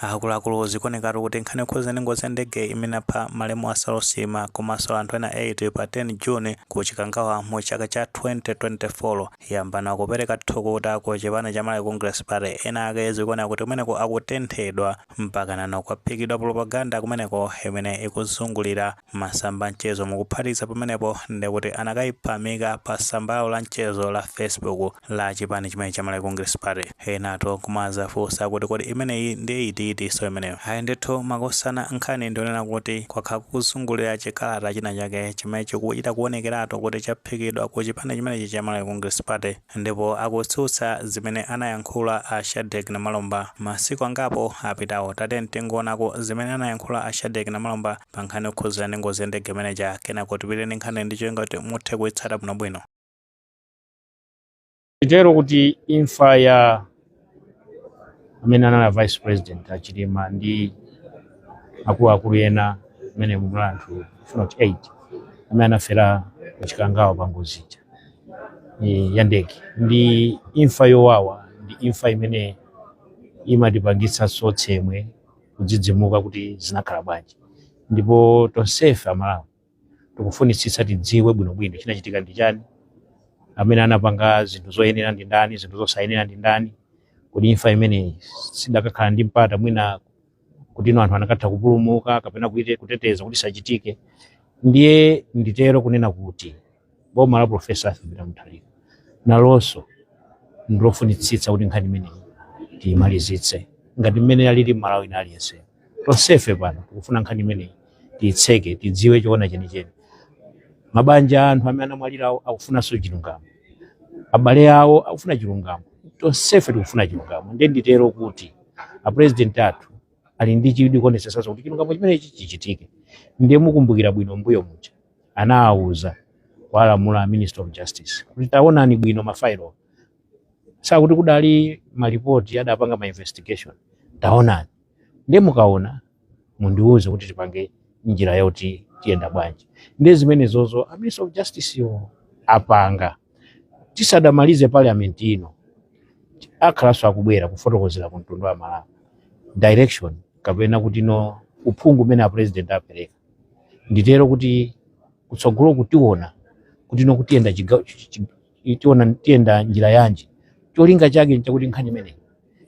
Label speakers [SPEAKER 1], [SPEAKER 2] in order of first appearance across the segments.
[SPEAKER 1] akuluakulu zikuonekatu kuti nkhani yokhuza ndi ngozi ya ndege imene apha malemu a saulos chilima komanso anthu ena 8 pa 10 june ku chikangawa mu chaka cha 2024 yambano kupereka thukuta ku chipani cha malawi congress party ena ake zikuoneka kuti kumeneko akutenthedwa mpaka nano kwaphikidwa propaganda kumeneko imene ikuzungulira masamba a mchezo mukuphatikiza pamenepo ndekuti anakaipamika pa tsamba lawo la mchezo la facebook la chipani chimenechi cha malawi congress party enatu kumazafunsa kuti kodi imeneyi ndi iti itinso imeneyo ayi ndithu makosana nkhani ndi yonena kuti kwakhala kukuzungulira chikalata china chake chimene chikuchita kuonekeratu kuti chaphikidwa ku chipani chimenechi cha malawi congress party Ndipo akutsutsa zimene anayankhula a Shadreck Namalomba masiku angapo apitawo. Tatiyeni tingoonako zimene anayankhula a Shadreck Namalomba pa nkhani yokhudzana ndi ngozi ya ndege imene ija, kenako tipite ndi nkhaniyi ndi cholinga choti muthe kuitsata bwinobwino.
[SPEAKER 2] Titero kuti imfa ya amene anali a vice president a Chilima ndi akuluakulu ena amene munali anthu if not 8 amene anafera ku Chikangawa pa ngozi ija eh, ya ndege. Ndi imfa yowawa, ndi imfa imene imatipangitsa tsemwe, kudzidzimuka kuti zinakhala bwanji, ndipo tonsefe Amalawi tikufunitsitsa tidziwe bwinobwino chinachitika ndi chani amene anapanga zinthu zoyenera ndi ndani zinthu zosayenera ndi ndani kodi imfa imeneyi sidakakhala ndi mpata mwina kuti no anthu anakatha kupulumuka kapena kute- kuteteza kuti isachitike ndiye nditero kunena kuti boma la profesa arthur peter mutharika nalonso ndilofunitsitsa kuti nkhani imeneyi tiyimalizitse ngati mmene alili mmalawi wina aliyense tonsefe pano tikufuna nkhani imeneyi tiyitseke tidziwe choona chenicheni mabanja a anthu amene anamwalirawo akufunanso chilungamo abale awo akufuna chilungamo tonsefe tikufuna chilungamo ndiye nditero kuti apurezidenti athu ali ndi chidwi kuonetsetsa kuti chilungamo chimenechi chichitike ndiye mukumbukira bwino mbuyo muja anawauza kuwalamula a Minister of Justice kuti taonani bwino mafailowa zakuti kudali malipoti adapanga ma investigation taonani nde mukaona mundiuze kuti tipange njira yoti tiyenda bwanji nde zimenezozo a Minister of Justicewo apanga tisadamalize parliament ino akhala akubwera kufotokozera ku mtundu wa Amalawi direction kapena kuti no uphungu umene a president apereka nditero kuti kutsogoloku tiona kuti no kutiyenda chiga- chi- chi- chi- tiona tiyenda njira yanji cholinga chake nchakuti nkhani imeneyi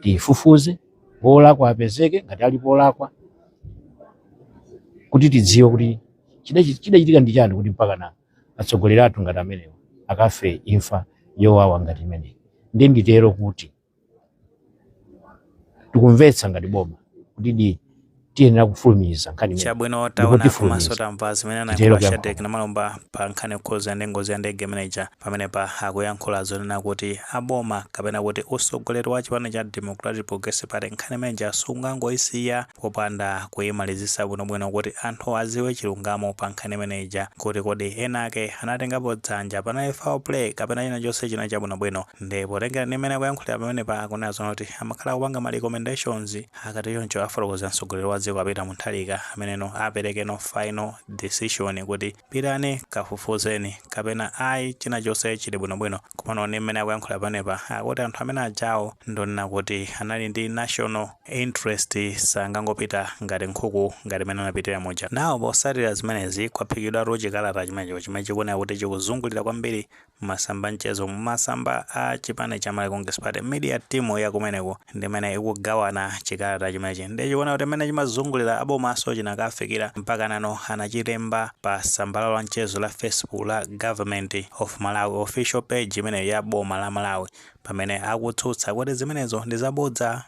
[SPEAKER 2] tiyifufuze wolakwa apezeke ngati alipo olakwa kuti tidziwe kuti chidachi- chidachitika ndi chani kuti mpakana atsogoleri athu ngati amenewo akafe imfa yowawa ngati imeneyi ndiye nditero kuti tikumvetsa ngati boma kutidi tiyenera kufulumiza nkhani imeneyi chabwino taona
[SPEAKER 1] komanso tamva zimene anayankhula a Shadrick Namalomba pa nkhani yokhuza ndi ngozi ya ndege imeneja pamenepa akuyankhula zonena kuti aboma kapena kuti usogoleri wa chipani cha democratic progressive party nkhani imeneja sungangoyisiya popanda kuyimalizisa bwinobwino kuti anthu aziwe chilungamo pa nkhani imeneja kuti kodi ena ake anatengapo dzanja panali foul play kapena china chonse chinachita bwinobwino nde potengera ndi mmene akuyankhulira pamenepa akunena zonena kuti amakhala akupanga ma recommendations akatichoncho afotokozera mtsogoleri wa dziko a Peter Mutharika ameneno aperekeno final decision kuti pitani kafufuzeni kapena ayi china chonse chili bwinobwino komano ndi mmene akuyankhulira pamenepa akuti anthu amene ajawo ndonena kuti anali ndi national interest sangangopita ngati nkhuku ngati mmene anapitira muja nano potsatira zimenezi kwaphikidwatu chikalata chimenecho chimene chikuoneka kuti chikuzungulira kwambiri m'masamba a mchezo mumasamba a chipani cha Malawi Congress Party Media Team ya kumeneko ndimene ikugawana chikalata chimenechi ndiye chikuoneka kuti mmene chimazungulira abomaso chinakafikira mpaka nano anachilemba pa samba lawo la mchezo la Facebook la Government of Malawi official page imeneyo ya boma la Malawi pamene akutsutsa kuti zimenezo ndi zabodza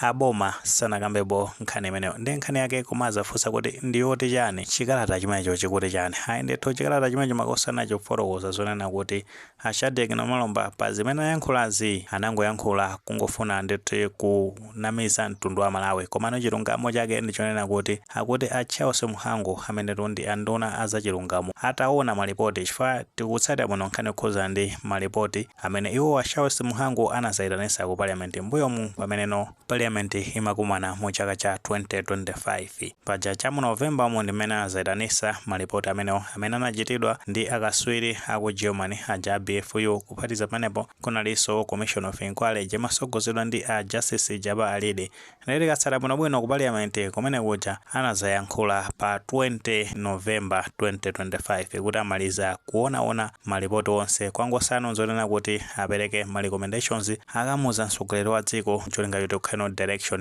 [SPEAKER 1] aboma sanakambepo nkhani imeneyo ndi nkhani yake koma muzafunsa kuti ndi yoti chani chikalata chimenecho chikuti chani ayi ndithu chikalata chimenecho makosana chikufotokoza zonena kuti a Shadrick Namalomba pa zimene ayankhulazi anangoyankhula kungofuna ndithu kunamiza mtundu wa Malawi komano chilungamo chake ndichonena kuti akuti a Charles Mhango amenetu ndi anduna azachilungamo ataona malipoti chifukwa tikutsatira bwino nkhani yokhuzana ndi malipoti amene iwo a Charles Mhango anazaitanisa ku Parliament mbuyomu pameneno Parliament imakumana mu chaka cha 2025. Paja cha mu November umu ndi mmene anazaitanisa ma report amenewo amene anachitidwa ndi akaswiri a ku Germany aja a BFU kuphatikiza pamenepo kunaliso Commission of Inquiry ija imasogozedwa ndi a Justice Jabbar Alide Ndiye tikatsata bwinobwino ku paliyamenti kumene kuja anadzayankhula pa 20 November 2025 kuti amaliza kuonaona malipoti onse kwangotsalano n'zonena kuti apereke ma recommendations akamuuza mtsogoleri wa dziko n'cholinga choti kukhaleno direction.